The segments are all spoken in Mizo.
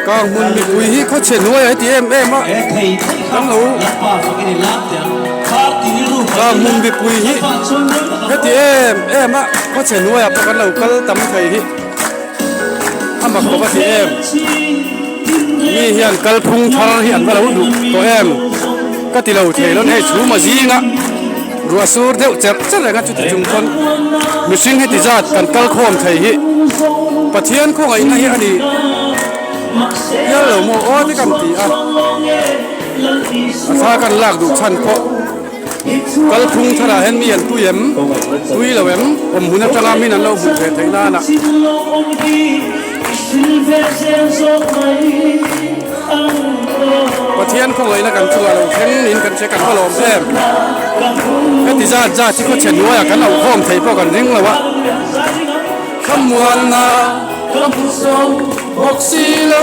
Ka hmun mipui hi khaw chhe nuai a ti em em a, kan lo ka hmun mipui hi heti em em a khaw chhe nuai a pawh kan lo kal tam thei hi. amak bawk a ti em mi hian kalphung thar hi an va lo duh tawh em ka ti lo thei lo hei chhuma zinga ruah sur deuh cher cher enga chuti chung chuan mihring heti zat kan kal khawm thei hi pathian khawnga inna hi ani pial lo maw aw te kan ti a a thla kan lak duh chhan pawh Kalphung thar ah hian mi an tui em tui lo em awm hun atanga min an lo hmuh ve theih nan ah Pathian khawngaihna kan chung ah lo thleng niin kan che kan va lawm em heti zat zat hi khawchhen hnuai ah kan auhawm thei pawh kan ring lo a Khamuanna ka hmu zo bawk si lo.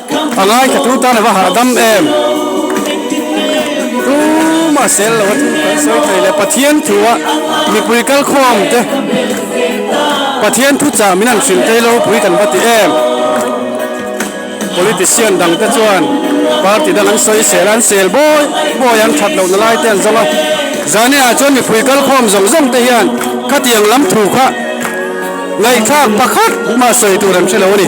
A ngai kha tu tan a va hahdam em? Tumah sel lo a thu kan sawi thei le. Pathian thua mipui kal khawm te Pathian thu chah min han hrilh thei lo pui kan va ti em? Politician dang te chuan party dang an sawi sel a, an sel bawi bawi a, an that lohna lai te an zawng a. Zaniah chuan mipui kal khawm zawng zawng te hian khatiang lam thu kha ngaihthlak pakhat mah sawi tur an hre lo a ni.